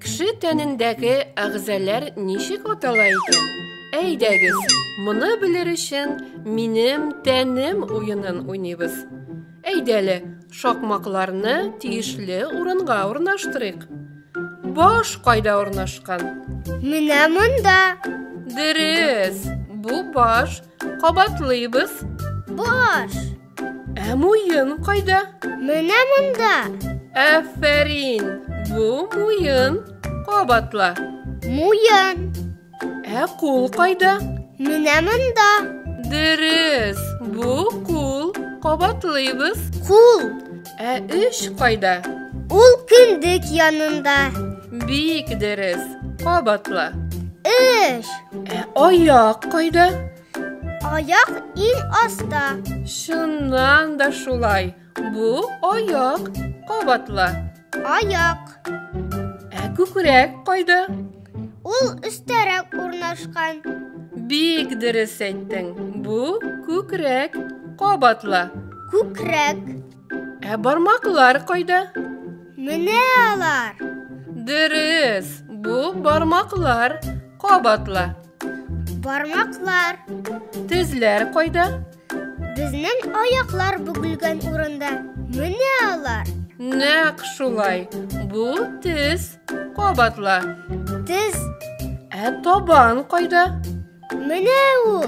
Кеше тәнендәге әгъзалар ничек атала икән? Әйдәгез, моны белер өчен минем тәнем уенын уйныйбыз. Әйдә әле, шакмакларны тиешле урынга урнаштырыйк. Баш кайда урнашкан? Менә монда. Дөрес, бу баш. Кабатлыйбыз. Баш. Ә муен кайда? Менә монда. Афәрин, бу муен. Кабатла. Муен. Ә кул кайда? Менә монда. Дөрес, бу кул кабатлыйбыз. Кул. Ә өч кайда? Ул кендек янында. Бик дөрес, кабатла. Өч. Ә аяк кайда? Аяк ин аста. Чыннан да шулай. Бу аяк кабатла. Аяк. Ә күкрәк кайда? Ул өстәрәк урнашкан. Бик дөрес әйттең. Бу күкрәк кабатла. Күкрәк. Ә бармаклар кайда? Менә алар. Дөрес. Бу бармаклар кабатла. Бармаклар. Тезләр кайда? Безнең аяклар бүгелгән урында менә алар. Нәкъ шулай. Бу тез. Кабатла. Тез. Ә табан кайда? Менә ул.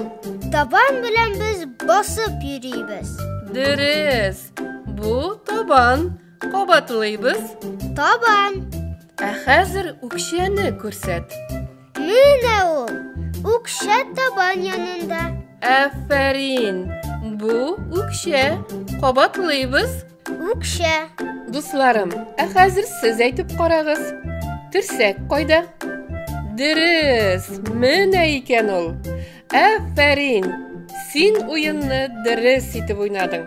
Табан белән без басып йөрибез. Дөрес. Бу табан. Кабатлыйбыз. Табам. Ә хәзер үкчәне күрсәт. Менә ул. Үкчә табан янында. Афәрин. Бу үкчә. Кабатлыйбыз. Үкчә. Дусларым, ә хәзер сез әйтеп карагыз. Терсәк кайда? Дөрес, менә икән ул. Әфәрин! Син уенны дөрес итеп уйнадың.